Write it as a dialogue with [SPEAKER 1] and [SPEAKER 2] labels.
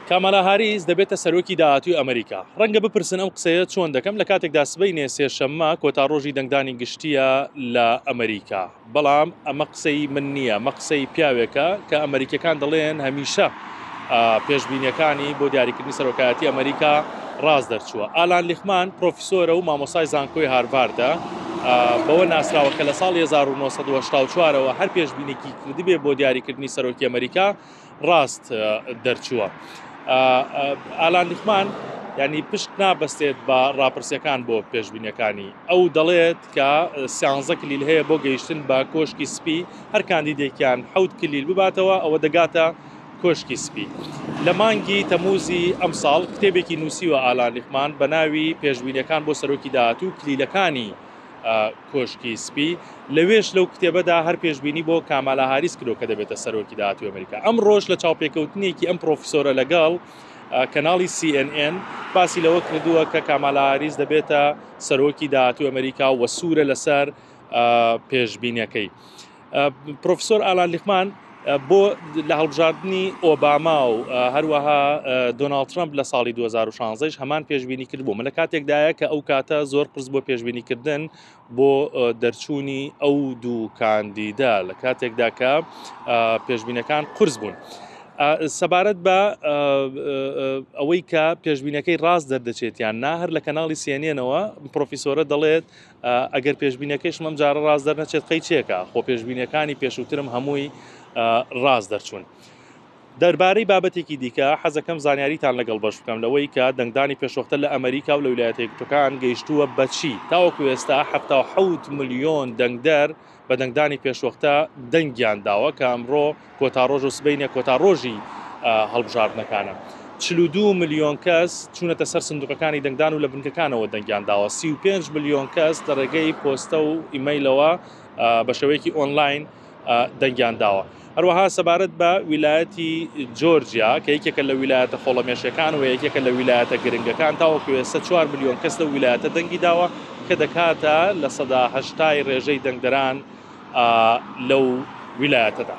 [SPEAKER 1] کامالا هاریس دەبێتە سەرۆکی داهاتوی ئەمریکا ڕەنگە بپرسن ئەم قسەیە چۆن دەکەم لە کاتێکدا سبەی نێ سێشەممە کۆتا ڕۆژی دەنگدانی گشتیە لە ئەمریکا بەڵام ئەمە قسەی من نییە مە قسەی پیاوێکە کە ئەمریکەکان دەڵێن هەمیشە پێشببینیەکانی بۆ دیاریکردنی سەرۆکایەتی ئەمریکا ڕاز دەرچووە ئالان لیخمان پرۆفیسۆرە و مامۆسای زانکۆی هارڤاردە بەوە ناسراوە کە لە ساڵ 1970وە هەر پێشببینێکی کردبێ بۆ دیاریکردنی سەرۆکی ئەمەریکا ڕاست دەرچووە ئالان لیخمان ینی پشت نابەستێت بە ڕاپرسەکان بۆ پێشبینەکانی ئەو دەڵێت کە سیانزە کلیل هەیە بۆ گەیشتن بە کۆشکی سپی هەر کاندیدێکیان حەوت کلیل بباتەوە ئەوە دەگاتە کۆشکی سپی لە مانگی تەموزی ئەم ساڵ کتێبێکی نووسیوە ئالان لیخمان بە ناوی پێشبینەکان بۆ سەرۆکی داهاتوو کلیلەکانی کۆشکی سپی، لەوێش لەو کتێبەدا هەر پێشبینی بۆ کامالا هاریس کرۆ کە دەبێتە سەرۆکی داهاتوی ئەمریکا ئەم ڕۆژ لە چاوپێکەوتنێکی ئەم پرۆفسۆرە لەگەڵ کەناڵی CNN باسی لەوە کردووە کە کامالاریز دەبێتە سەرۆکی داهاتوی ئەمریکا وە سوورە لەسەر پێشبینەکەی. پرۆفسۆر ئالان لیقمان بۆ لە هەڵبژاردننی ئۆباما و هەروەها دۆناالد ترمپ لە ساڵی 2016 هەمان پێشببینی کرد بووم لە کاتێکدایە کە ئەو کاتە زۆر قرس بۆ پێشببینیکردن بۆ دەرچوونی ئەو دوو کاندیدا لە کاتێکدا کە پێشببینەکان قرس بوون. سەبارەت بە ئەوەی کە پێشببینەکەی ڕاست دەردەچێتیان نا هەر لە کەناڵی سێنێنەوە پرۆفیسۆرە دەڵێت ئەگەر پێشبینەکەیشم ئەم جارە ڕاست دەرنەچێت قەی چێکە خۆ پێشبینەکانی پێشووترم هەمووی ڕاست دەرچوون. دەربارەی بابەتێکی دیکە حەزەکەم زانیاریتان لەگەڵ بەش بکەم لەوەی کە دەنگدانی پێشوەختە لە ئەمریکا و لە ویلایەتە یەکگرتووەکان گەیشتووە بەچی تاوەکو ئێستا 76 ملیۆن دەنگدەر بە دەنگدانی پێشوەختە دەنگیان داوە کە ئەمڕۆ کۆتا ڕۆژ و سبەینێ کۆتا ڕۆژی هەڵبژاردنەکانە. چل و دوو ملیۆن کەس چوونەتە سەر سندوقەکانی دەنگدان و لە بنکەکانەوە دەنگیان داوە، سی و پێنج ملیۆن کەس لە ڕێگەی پۆستە و ئیمەیلەوە بە شێوەیەکی ئۆنلاین دەنگیان داوە. هەروەها سەبارەت بە ویلایەتی جۆرجیا کە یەکێکە لە ویلایەتە خۆڵەمێشیەکان و یەکێکە لە ویلایەتە گرنگەکان تاوەکو ئێستا چوار ملیۆن کەس لەو ویلایەتە دەنگی داوە کە دەکاتە لە سەدا هەشتای ڕێژەی دەنگدەران لەو ویلایەتەدا.